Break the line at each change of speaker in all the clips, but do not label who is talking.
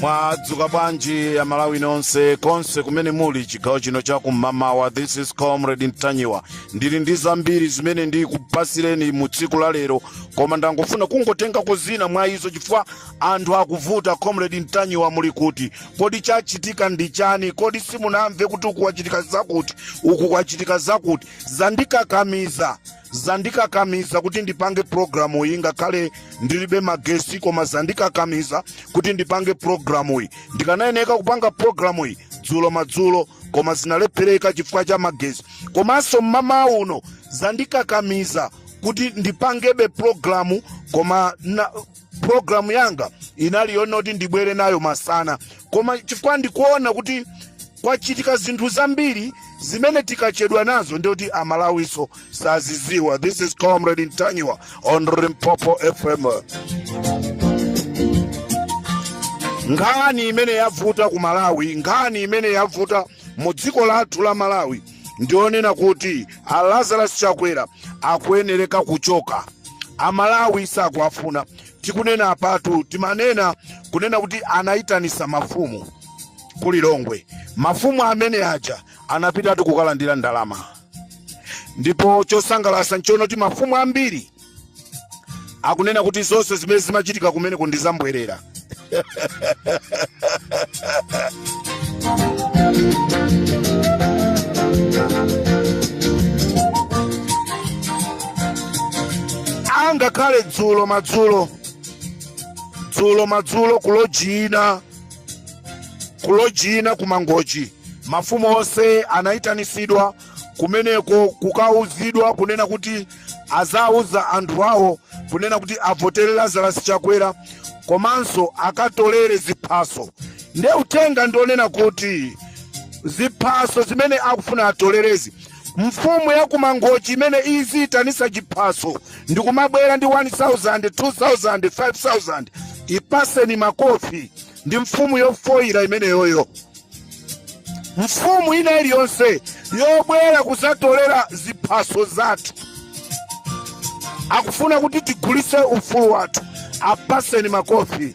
mwadzuka bwanji a malawi nonse konse kumene muli chigawo chino cha kum'mamawa this is comrade mtanyiwa ndili ndi zambiri zimene ndikupatsireni mu tsiku la lero koma ndangofuna kungotengako zina mwa izo chifukwa Anthu akuvuta comrade ntanyiwa muli kuti kodi chachitika ndi chani kodi simunamve kuti uku kwachitika zakuti uku kwachitika zakuti zandikakamiza zandikakamiza kuti ndipange programu iyi ngakhale ndilibe magesi koma zandikakamiza kuti ndipange programu iyi ndikanayeneka kupanga programu iyi dzulo madzulo koma zinalephereka chifukwa cha magesi komanso mmamawa uno zandikakamiza kuti ndipangebe programu koma programu yanga inali yonena kuti ndibwere nayo masana koma chifukwa ndikuona kuti kwachitika zinthu zambiri zimene tikachedwa nazo ndiye kuti amalawinso saziziwa this is comrade ntanyiwa on limpopo fm nkhani imene yavuta ku malawi nkhani imene yavuta mu dziko lathu la malawi ndi yonena kuti a lazarus chakwera akuyenereka kuchoka amalawi sakuwafuna tikunena apatu timanena kunena kuti anayitanisa mafumu ku lilongwe mafumu amene aja anapitatu kukalandira ndalama ndipo chosangalatsa nchonena kuti mafumu ambiri akunena kuti zonse zimene zimachitika kumeneku ndi zambwerera angakhale dzulo madzulo dzulo madzulo kuloji ina kuloji ina kumangochi mafumu onse anayitanisidwa kumeneko kukauzidwa kunena kuti azawuze anthu awo kunena kuti avotere lazarus chakwera komanso akatolere ziphaso nde uthenga ndi wonena kuti ziphaso zimene akufuna atolerezi mfumu ya kumangochi imene iziyitanisa chiphaso ndikumabwera ndi 1000 2000 5000 ipaseni makofi ndi mfumu yofoyira imeneyoyo mfumu ina iliyonse yobwera kuzatolera ziphaso zathu akufuna kuti tigulise ufulu wathu apatseni makofi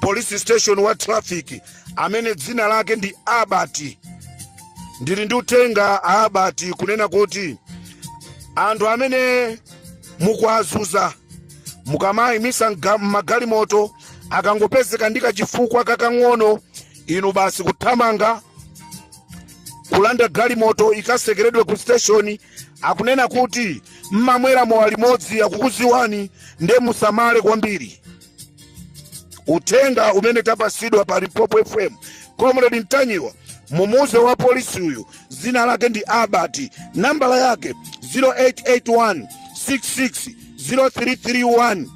polisi station wa traffic amene dzina lake ndi Abati ndili ndi uthenga a Abati kunena kuti anthu amene mukuwazuza mukamayimisa mga- magalimoto akangopezeka ndi kachifukwa kakang'ono inu basi kuthamanga kulanda galimoto ikasekeredwe ku station akunena kuti mmamwera mowa limodzi akukuziwani nde musamale kwambiri uthenga umene tapasidwa pa Limpopo FM Comrade Ntanyiwa mumuuze wa polisi uyu zina lake ndi Abati nambala yake 0881 66 0331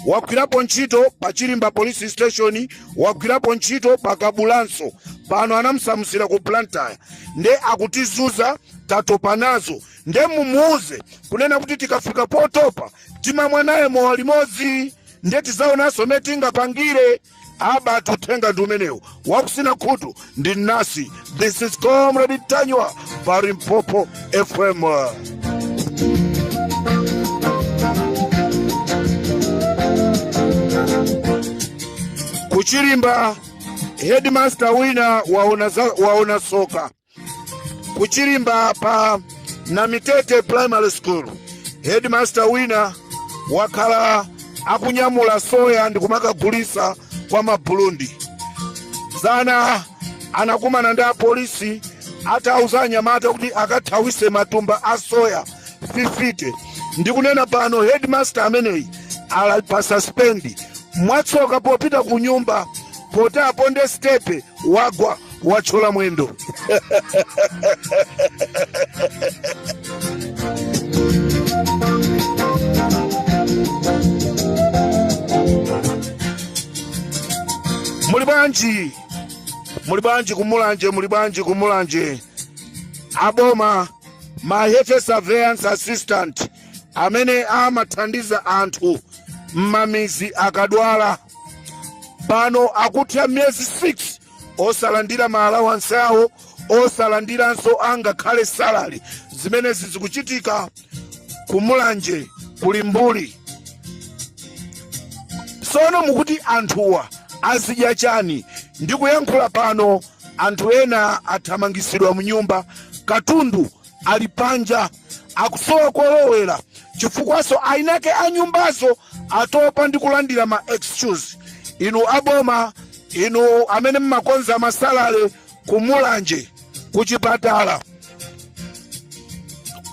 wagwirapo ntchito pa Chilimba police station wagwirapo ntchito pa Kabulanso pano anamsamusira ku Blantyre nde akutizuza tatopa nazo nde mumuuze kunena kuti tikafika potopa timamwa naye mowa limodzi ndiye tizaonanso mmene tingapangire Abati uthenga ndi umenewu wakusina khutu ndi mnasi this is Comrade Ntanyiwa pa Limpopo FM ku Chilimba headmaster wina waona, za, waona soka ku Chilimba pa Namitete primary school headmaster wina wakhala akunyamula soya ndi kumakagulisa kwa Maburundi zana anakumana ndi apolisi atauza anyamata kuti akathawise matumba a soya 50 ndikunena pano headmaster ameneyi ali pa suspendi mwatsoka popita ku nyumba poti aponde stepe wagwa watchola mwendo muli bwanji muli bwanji ku Mulanje muli bwanji ku Mulanje aboma ma health surveillance assistant amene amathandiza anthu m'mamizi akadwala pano akutha miyezi 6 osalandira ma allowance awo osalandiranso angakhale salary zimenezi zikuchitika ku Mulanje ku Limbuli sono mukuti anthuwa azidya chani ndikuyankhula pano anthu ena athamangisidwa mnyumba katundu ali panja akusowa kolowera chifukwaso ayinake a nyumbazo atopa ndi kulandira ma excuse inu aboma inu amene mmakonza ma salary kumulanje kuchipatala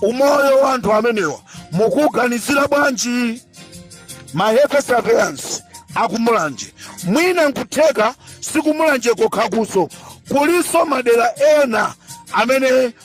umoyo wa anthu amenewa mukuganizira bwanji ma health surveillance akumulanje mwina nkutheka sikumulanje kokhakuso kuliso madera ena amene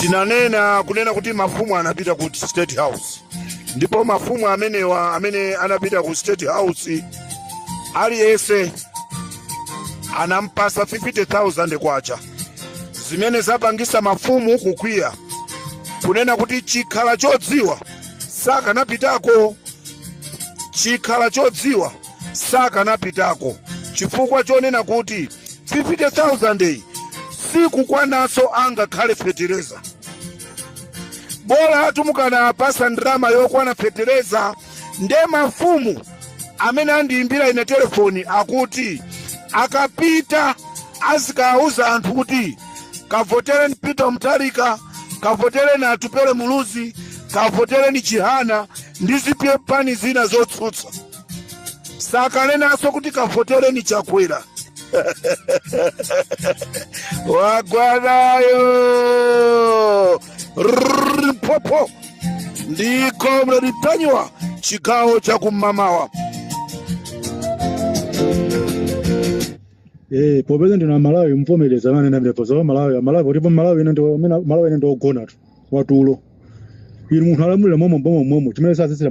tinanena kunena kuti mafumu anapita ku state house ndipo mafumu amenewa amene anapita ku state house aliyense anampasa 50000 kwacha zimene zapangisa mafumu kukwiya kunena kuti chikhala chodziwa sakanapitako chikhala chodziwa sakanapitako chifukwa chonena kuti 50000 iyi sikukwanaso angakhale fetereza bola amatukana apasa ndalama yokwana fetereza nde mafumu amene andiyimbira ine telefoni akuti akapita azikawawuza anthu kuti kavotereni Peter Mutharika, kavotereni Atupele Muluzi, kavotereni Chihana ndi zipani zina zotsutsa. Sakanenanso kuti kavotereni Chakwera wagwanayo Limpopo ndi comrade Ntanyiwa chigawo cha kum'mawa.
Eh, popeza ndi amalawi mvomereza nane na mrepo za Malawi, Malawi ndipo Malawi ine ndo mena Malawi ine ndi ogona tu atulo. Inu munthu akulamulira momo mboma momo chimene sasitsira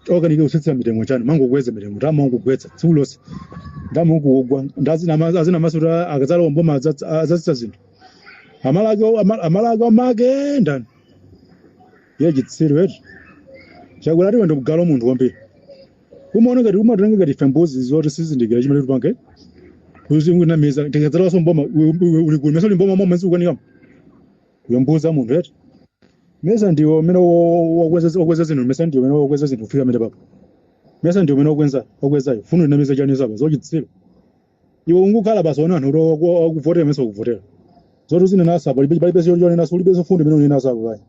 wakanika kutsitsira mitengo chani amangokweza mitengo amangokweza tsiku lonse ta mango kugwa ndazi na mazi azinama zoti akazalowa mboma azasitsa zinthu. Amala ake amala ake amake ndani. Ye chitsiro eti. Chakula tiwe ndi galu munthu kwambiri. umaona ngati umatitenga ngati ife mbuzi zoti sitizindikira chimene tipange uzingonamiza tikadzalowaso mboma uli ku mesa uli mboma momwe zikukanikamo iwe mbuzi ya munthu eti mesa ndiwe amene wakweza zinthu mesa ndiwe amene wakweza zinthu kufika amene papa mesa ndiwe amene wakwenza wakwezayo ufuna unamiza chani zaba zachitsiru iwe ungokhala basi ona anthu wakuvotera mesa akuvotera zoti uzinenaso apo palibe palibe choti chonenaso ulibe zomfundo zimene unenaso apo pai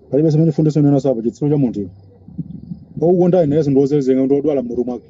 palibe zimene chifundo sionenaso apo chitsiru cha munthu iwe wakukondayo nayeso ndi wozerezeka ndi wodwala mmutu mwake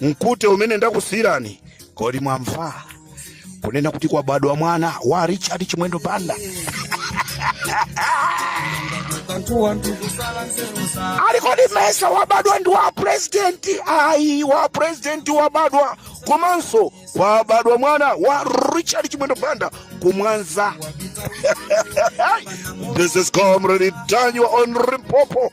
mkute umene ndakusiyirani kodi mwamva kunena kuti kwabadwa mwana wa richard chimwendo banda ali kodi mesa wabadwa ndi wa purezidenti ayi wa purezidenti wabadwa komanso kwabadwa mwana wa richard chimwendo banda kumwanza this is comrade daniel on limpopo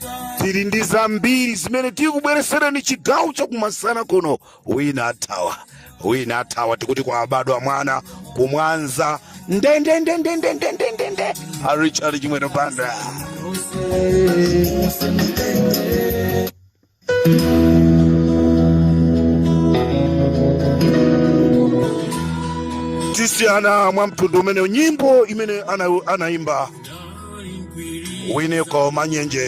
tili ndi zambiri zimene tikubweretsereni chigawo chakumasana kuno wina athawa wina athawa tikuti kwabadwa mwana kumwanza ndendendendendendendendende a richard chimwendo banda tisiyana mwa mtundu umenewu nyimbo imene ana- anaimba Winiko Manyenje.